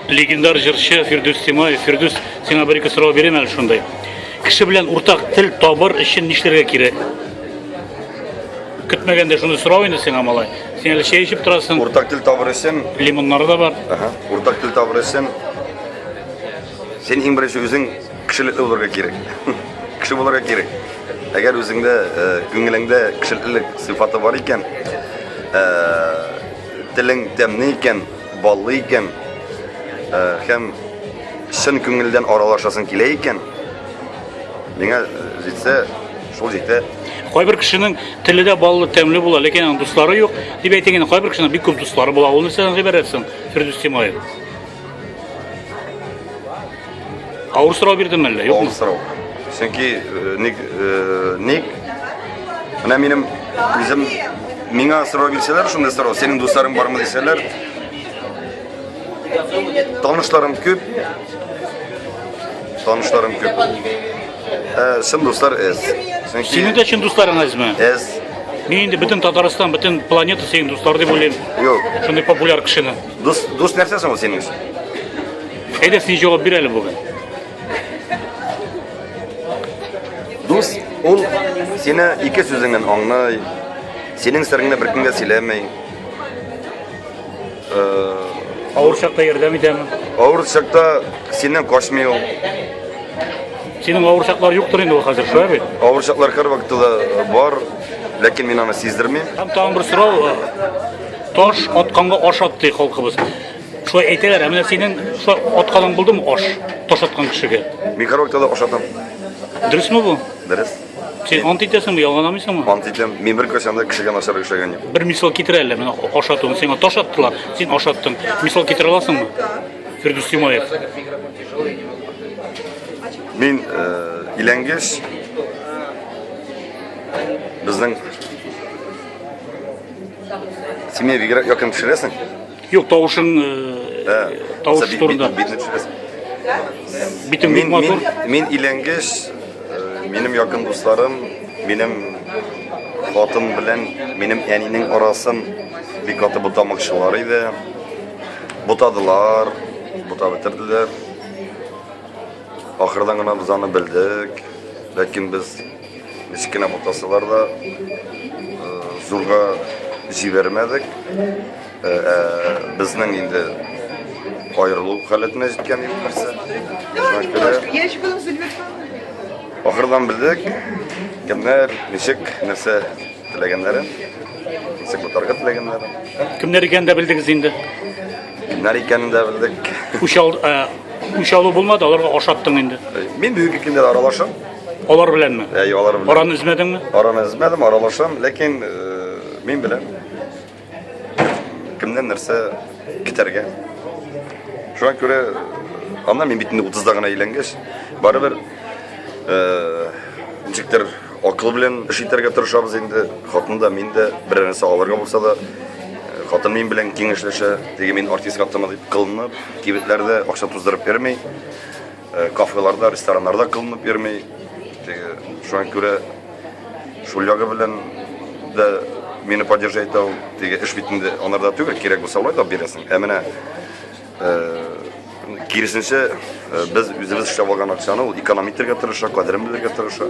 легендар җырчы Фирдүс Тимаев. Фирдүс, сиңа бер ике сорау бирәм әле шундай. Кеше белән уртак тел табыр өчен нишләргә кирәк? Көтмәгәндә шуны сорау инде сиңа малай. Син әле чәй эчеп торасың. Уртак тел табыр өчен лимоннары да бар. Ага. Уртак тел табыр өчен син иң беренче үзең Кешелекле булырга кирәк. Кеше булырга кирәк. Әгәр үзеңдә, э, күңелеңдә кешелеклелек сыйфаты бар икән, э, телең тәмле икән, баллы икән, э, һәм чын күңелдән аралашасың килә икән, миңа җитсә, шул җитә. Кайбер кешенең теле дә баллы, тәмле була, ләкин аның дуслары юк. Дип әйтә генә, кайбер кешенең бик күп дуслары була. Ул нәрсәдән гыйбарәт соң, Фирдүс Тимаев? Авыр сорау бирдем әллә, юкмы? Авыр сорау. Чөнки э, ник э, ник менә минем үзем миңа сорау бирсәләр, шундый сорау, синең дусларың бармы дисәләр, танышларым күп, танышларым күп. Ә, чын дуслар эз. Синең дә чын дусларың әзме? Эз. Мин инде бөтен Татарстан, бөтен планета синең дуслар дип уйлыйм. Юк. Шундый популяр кешене. Дус, дус нәрсә соң ул синең өчен? Әйдә син җавап бир әле бүген. Дус ул сине ике сүзеңнән аңлый, синең сырыңны беркемгә сөйләмәй. Э, Авыр чакта ярдәм итәме? Авыр чакта синнән качмый ул. Синең авыр чаклар юктыр инде ул хәзер, шулай бит? Авыр чаклар һәр вакытта да бар, ләкин мин аны сиздермим. Һәм тагын бер сорау, Таш атканга аш ат ди халкыбыз. Шулай әйтәләр, ә менә синең шулай атканың булдымы аш? Таш аткан кешегә. Мин караоктада аш атам. Дөресме бу? Дөрес. Син ант итәсеңме, ялганамыйсыңмы? Ант итәм. Мин бер касәмдә кешегә начар эшләгән юк. Бер мисал китер әле, менә аш атуын сиңа таш аттылар, син аш аттың. Мисал китерә аласыңмы? Фирдүс Тимаев. Мин э, иләнгәч безнең Син меня бигрәк якын төшерәсең? Юк, тавышың Ә, тавыш бит- бит- турында. Битне төшерәсең. Битең бик Мин, мин, матур. мин иләнгеч, э, минем якын дусларым, минем хатын белән минем әнинең арасын бик каты бутамакчылар иде. Бутадылар, бута бетерделәр. Ахырдан гына без аны белдек. Ләкин без Кечкенә мутасылар да зурга җибәрмәдек. Безнең инде аерылу халәтенә җиткән юк нәрсә. Ахырдан белдек, кемнәр, ничек, нәрсә теләгәннәрен, ничек утарга теләгәннәрен. Кемнәр икәнен дә белдегез инде. Кемнәр икәнен дә белдек. Үч алу булмады, аларга ашаттың инде. Мин бүгенге көндә аралашам. Алар беләнме? Әй, алар белән. Араны өзмәдеңме? Араны өзмәдем, аралашам, ләкин э, мин беләм. Кемнән нәрсә китәргә. Шуңа күрә анда мин бит инде 30-да гына әйләнгәч, барыбер э, ничектер акыл белән эш итәргә тырышабыз инде. Хатын да, мин дә бер нәрсә алырга булса да, э, хатын мин белән киңәшләшә. Теге мин артистка аттыма дип кылынып, кибетләрдә акча туздырып йөрми. Кафеларда, рестораннарда кылынып йөрми. Шуңа күрә шул ягы белән дә мине поддержать итә ул. Теге эш бит инде анарда түгел, кирәк булса алай да бирәсең. Ә менә киресенчә без үзебез эшләп алган акчаны ул эконом итәргә тырыша, кадерен белергә тырыша.